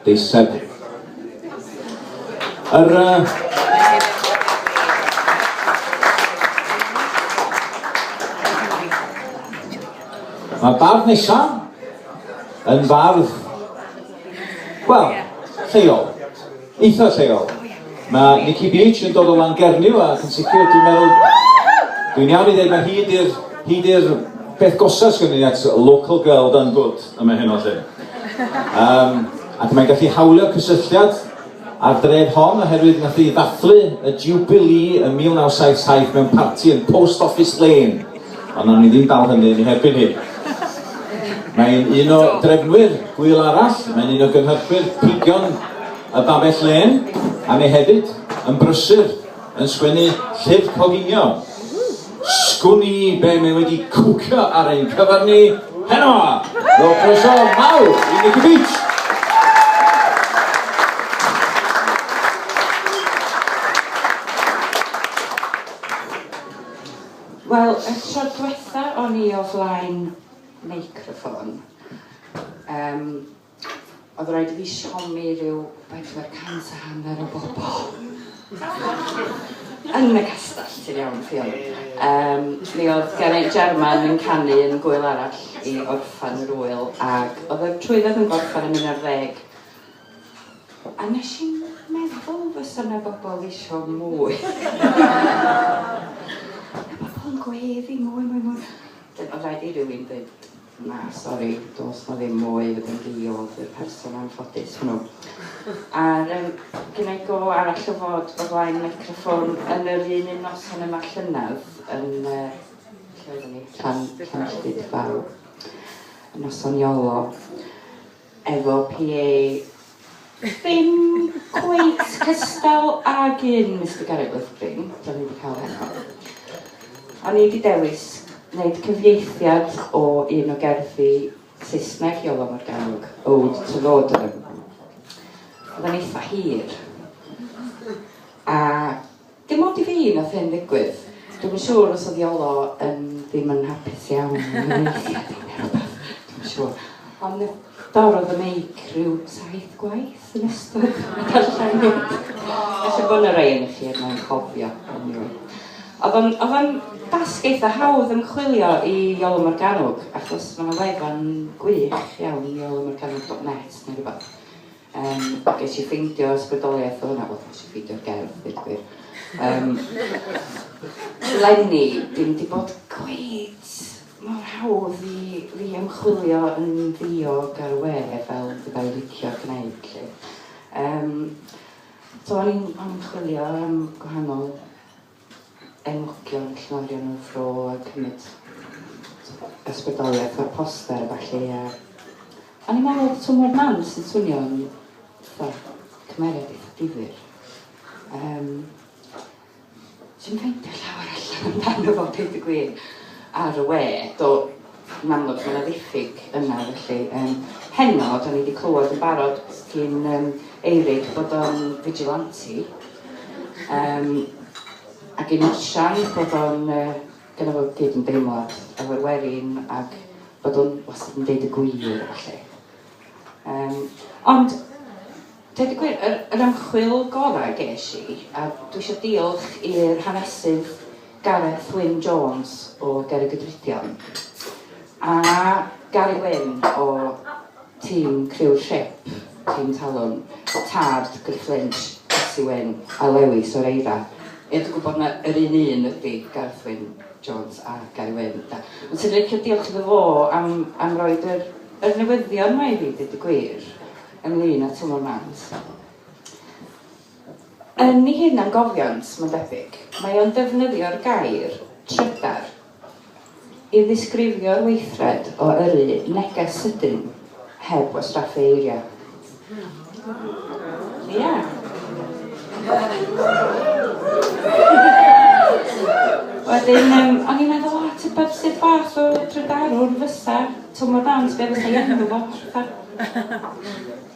Deiseb. Yr... Mae bardd nesaf yn fardd, wel, lleol, eitha lleol. Mae Nikki Beach yn dod o Langernyw a yn sicr dwi'n meddwl, dwi'n iawn i ddweud mae hyd i'r hyd i'r peth gosas gynnu at local girl done good yma heno lle. Um, ac mae'n gallu hawlio cysylltiad a'r dref hon oherwydd nath i ddathlu y Jubilee yn 1977 mewn parti yn Post Office Lane. Ond nawn ni ddim dal hynny yn ei herbyn hi. Mae'n un o drefnwyr gwyl arall, mae'n un o gynhyrchwyr pigion y Babell Lane, a mae hefyd yn brysur yn sgwennu llyfr coginio. Sgwn i be mae wedi cwcio ar ein cyfer ni heno! Rhowch croeso mawr i Nicky Beach! Wel, y tro diwetha o'n i o flaen meicroffon, um, Oedd rhaid i fi siomi rhyw bedwar cant a hanner o bobl. Yn y castell, ti'n iawn, ti'n iawn. Yym, mi oedd Geraint Jarman yn canu yn Gwyl Arall i orffan yr ŵyl, ac oedd y trwydded yn gorffan yn mynd ar ddeg. A nes i'n meddwl fysa 'na bobl isio mwy. Mae pobl yn gweddu mwy, mwy, mwy. Wedyn oedd rhaid i rywun ddeud Na, sori, does 'na ddim mwy yn fi oedd y person anffodus hwnnw. A'r um, gynnau go arall o fod o flaen microffon yn yr un un noson yma llynedd yn uh, lle oeddwn i, Llan, Llanilltud Fawr, yn noson Iolo. efo PA ddim cweit cystal ag un Mister Garrett Withbring, da ni wedi cael heno. O'n i wedi dewis wneud cyfieithiad o un o gerddi Saesneg Iolo Morgannwg, Ode to Lordum. Oedd o'n eitha hir. A Dim ond i fi nath hyn ddigwydd. Dwi'm yn siŵr os odd Iolo yn ddim yn hapus iawn yn y neilltuad yma ne' rwbath, dwi'm yn siŵr. Ond mi dorrodd y meic rhyw saith gwaith yn ystod y darlleniad. Ella bo' 'na rei onoch chi yn fy nghofio anyway. O'dd o'n o'dd o'n dasg eitha hawdd ymchwilio i Iolo Morgannwg achos ma' 'na wefan gwych iawn, iolomorgannwg dot net ne' rwbath. Yym ges i ffeindio ysbrydoliaeth o hwnna, wel ges i ffeindio'r gerdd ddeud y gwir. Yym leni dim wedi bod cweit mor hawdd i fi ymchwilio yn ddiog ar y we fel fydda i licio gwneud 'lly. Yym so o'n i'n o'n i'n chwilio am gwahanol enwogion llorion y fro a cymryd ysbrydoliaeth o'r poster a ballu a o'n i'n meddwl bod twmlo'r man sy'n swnio yn fatha cymeriad eitha difyr. Um, Dwi'n ffeindio llawer allan amdano fo, dweud y gwir, ar y we. Do, Yn amlwg mae 'na ddiffyg yna felly. Yym heno, dan ni 'di clywed yn barod gin yym Eirig bod o'n vigilante, yym a gin Osian bod o'n yy gynna fo gydymdeimlad efo'r werin ac bod o'n wastad yn deud y gwir a ballu. Yym ond Deud y gwir, yr yr ymchwil gorau ges i, a dwi isio diolch i'r hanesydd Gareth Wyn Jones o Gerrig y Drudion a Gary Wyn o tîm criw'r Ship, tîm Talwm, tad Griff Lynch, Betsi Wyn a Lewis o'r Eira. Ie dwi'n gwybod na yr un un ydi Gareth Wyn Jones a Gary Wyn de. Ond swn i'n licio diolch iddo fo am am roid yr yr newyddion 'ma i fi deud y gwir. ynglŷn â Twm y Mant. Yn ei hunangofiant, mae'n debyg, mae o'n defnyddio'r gair 'trydar' i ddisgrifio'r weithred o yrru neges sydyn heb wastraffu eiriau. Ia. Wedyn, um, o'n i'n meddwl, o, tybed sut fath o trydarwr fysa Twm y Mant, be fysa ei enw fo,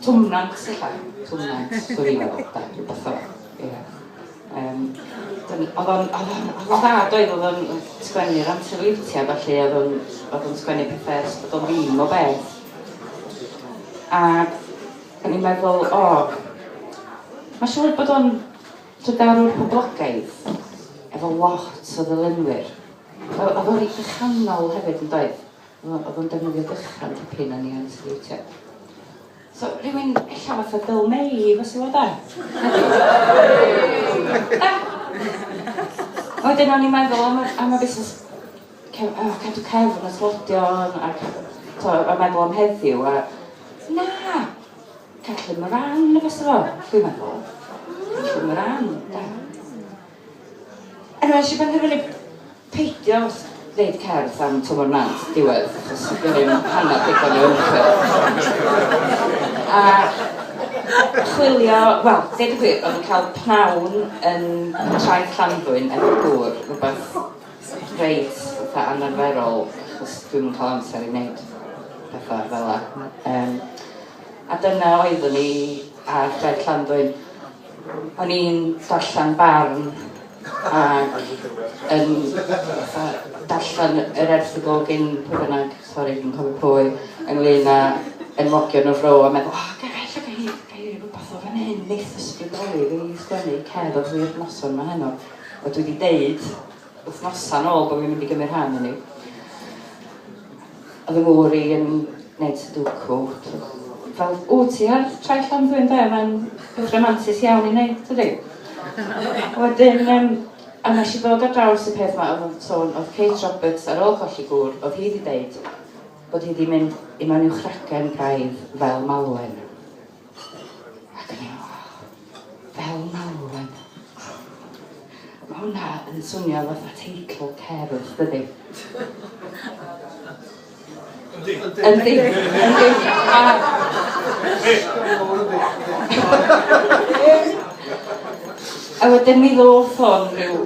Twmnant ella? Twmnant, dw i'n meddwl, da, rhywbeth fel 'na, ia. Yym, dyn- oedd o'n, oedd o'n, oedd o'n dda doedd, oedd o'n oedd sgwennu ar amser leithia ballu, oedd o'n, oedd o'n sgwennu pethe ers bod o'n ddim o beth. Ac o'n i'n meddwl, o, mae'n siŵr bod o'n trydarwr poblogaidd, efo lot o ddilynwyr. Oedd oedd o'n eitha chanol hefyd, yn doedd? O, oedd o'n defnyddio dychan tipyn yn ei ansileitio. So, rhywun ella fath o Bill May i fysu o da. Wedyn o'n i'n meddwl am, am y busnes oh, cadw cefn y slodion a, to, a meddwl am heddiw a na, cadw ymran y fysa fo, dwi'n meddwl. Cadw ymran, da. Ac nes i benderfynu peidio wneud cerdd am Twm o'r Nant yn diwedd, achos do'n i ddim hanner digon o ymchwil. A chwilio, wel, deud y gwir, oedd cael pnawn yn traeth Llanddwyn efo dŵr, rhywbeth reit fatha anarferol, achos dwi'm yn cael amser i wneud pethau fel yna. Um, a dyna oeddwn i ar draeth Llanddwyn. O'n i'n darllen barn ac yn fatha darllen yr erthygl gin pwy bynnag, sori fi'm yn cofio pwy, ynglyn â enwogion y fro a meddwl, oh, ga i ffyc o hyd, ga i rhywbeth o fan hyn, neith ysbrydoli fi i sgwennu cerdd i'r noson ma heno. A dwi wedi deud wythnosau nôl bod fi'n mynd i gymryd rhan yn ei. Oedd y gŵr i yn gwneud sudoku. Fel, o, ti ar traeth Llanddwyn de, mae'n beth rhamantus iawn i wneud, tydi? Wedyn, um, a nes i ddod ar draws y peth yma, oedd sôn, oedd Kate Roberts ar ôl colli gŵr, oedd hi wedi deud bod hi wedi mynd i mewn i'w chracen braidd fel malwen. Fel malwen. Ma' hwnna yn swnio fatha teitl cerdd, dydi? Yndi. Yndi. Yndi. A wedyn mi ddoth hwn rhyw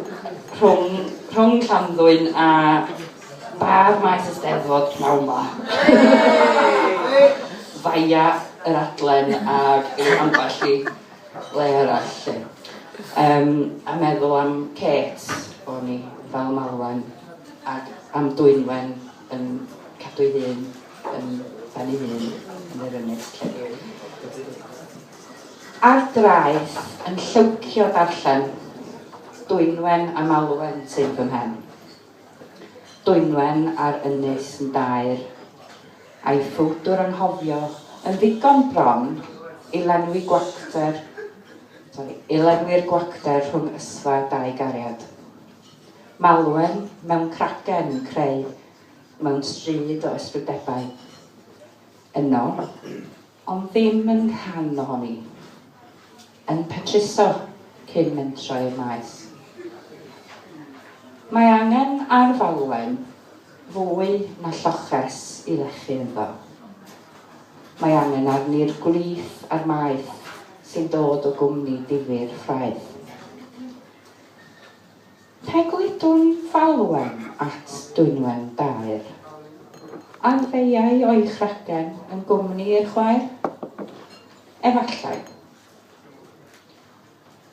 rhwng rhwng Llanddwyn a Bar maes Eisteddfod pnawn 'ma. Via yr adlen ag i ambell i le arall 'lly. Yym a meddwl am Kate o'n i fel malwen ac am Dwynwen yn cadw'i hun yn ben ei hun yn yr ynys 'lly. Ar draeth yn llywcio darllen Dwynwen a malwen syth fy mhen. Dwynwen ar Ynys yn daer, a'i ffowdwr anghofio yn ddigon bron i lenwi gwacter, sori, i lenwi'r gwacter rhwng ysfa dau gariad. Malwen mewn cragen yn creu mewn stryd o ysbrydebau. Yno, Ond ddim yn rhan ohoni. Yn petruso cyn mentro i'r maes. Mae angen ar falwen fwy na lloches i lechu ynddo. Mae angen arni'r gwlith a'r maeth sy'n dod o gwmni difyr ffraeth. Fe gludwn falwen at Dwynwen daer. A'r feiau o'i chragen yn gwmni i'r chwaer? Efallai.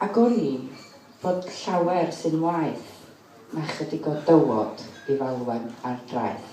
A gwn i fod llawer sy'n waeth na chydig o dywod i falwen ar draeth.